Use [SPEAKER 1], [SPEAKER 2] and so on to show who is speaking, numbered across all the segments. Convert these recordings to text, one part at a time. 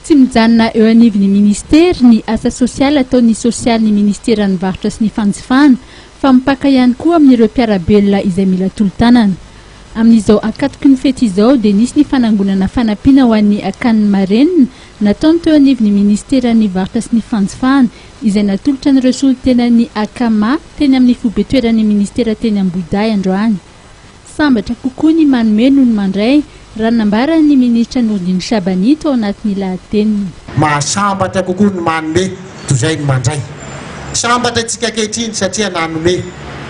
[SPEAKER 1] Tsy mijanona eo anivon'ny Minisitery ny asa sosialy ataon'ny sosialin'ny Minisiteran'ny varotra sy ny fanjifana fa mipaka ihany koa amin'ireo mpiara-belona izay mila tolo-tanana. Amin'izao ankatoky ny fety izao dia nisy ny fanangonana fanampiana ho an'ny akanin'ny marenina nataony teo anivon'ny Minisiteran'ny varotra sy ny fanjifana izay natolotra an'ireo solontenan'ny Akama teny amin'ny foibe toeran'ny Minisitera teny Ambohidahy androany. Sambatra kokoa ny manome noho ny mandray, raha nambaran'ny minisitra Nourdine Shabani tao anatin'ny lahateniny. Mahasambatra
[SPEAKER 2] kokoa ny manome toy izay ny mandray. Sambatra isika ankehitriny satria nanome.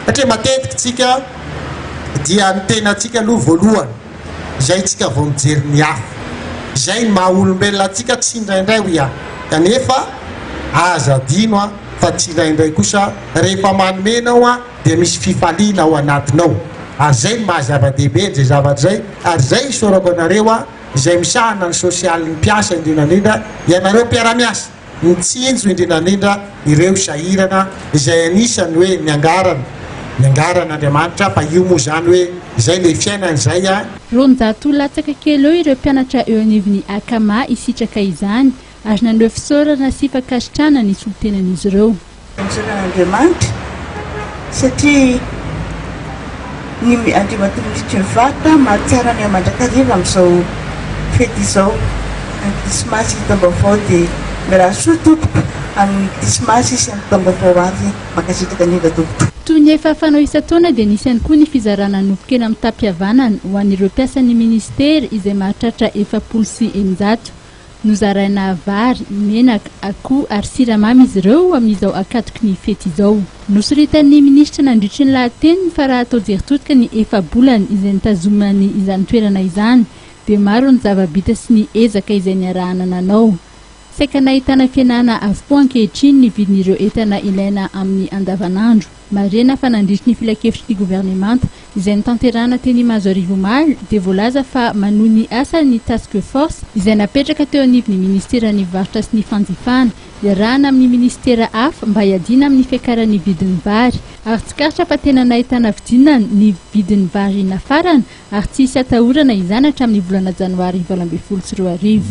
[SPEAKER 2] Satria matetika isika dia ny tenantsika aloha voalohany, izay isika vao mijery ny hafa. Izay ny maha olombelona antsika tsindraindray, hoy aho. Kanefa aza adino fa tsindraindray kosa rehefa manome ianao, dia misy fifaliana ao anatinao. Ary izay no maha-zava-dehibe an'izay zavatra izay. Ary izay isaorako anareo aho, izay misahana ny sosialin'ny mpiasa indrindra indrindra, ianareo mpiara-miasa, mitsinjo indrindra indrindra ireo sahirana, izay anisan'ny hoe niangarana, niangaran'Andriamanitra, fa io moa izany hoe izay ilay fiainana izay a. Roanjato
[SPEAKER 1] latsaka kely eo ireo mpianatra eo anivon'ny Akama hisitraka izany. Ary naneho fisaorana sy fankasitrahana ny solontenan'izy ireo. Anjaran' Andriamanitra,
[SPEAKER 3] satria ny Andriamatoa Mister Vart mahatsara ny mandrakariva amin'izao fety izao, ny Krismasy ny Taom-baovao, dia mirary soa Tompoko amin'ny Krismasy sy amin'ny Taom-baovao avy, mankasitraka indrindra Tompoko. Toy ny efa fanao
[SPEAKER 1] isan-taona dia nisy ihany koa ny fizarana nofon-kena mitam-pihavanana ho an'ireo mpiasan'ny Minisitera izay mahatratra efapolo sy eninjato. Nozaraina vary, menaka, akoho ary siramamy izy ireo amin'izao ankatoky ny fety izao. Nosoritan'ny minisitra nandritry ny lahateniny fa raha atao jery todika ny efa-bolana izay nitazomany izany toerana izany dia maro ny zava-bita sy ny ezaka izay niarahana nanao. Saika nahitana fihenana avokoa ankehitriny ny vidin'ireo entana ilaina amin'ny andavanandro. Marihina fa nandritry ny filankevitry ny governemanta izay notanterahina teny Imazoarivo omaly dia voalaza fa manohy ny asan'ny Task Force izay napetraka teo anivon'ny Minisiteran'ny Varotra sy ny Fanjifana iarahana amin'ny Minisitera hafa mba hiadiana amin'ny fiakaran'ny vidin'ny vary ary tsikaritra fa tena nahitana fidinana ny vidin'ny vary nafarana ary tsy hisy hatahorana izany hatramin'ny volana janoary valo ambin'ny folo sy roa arivo.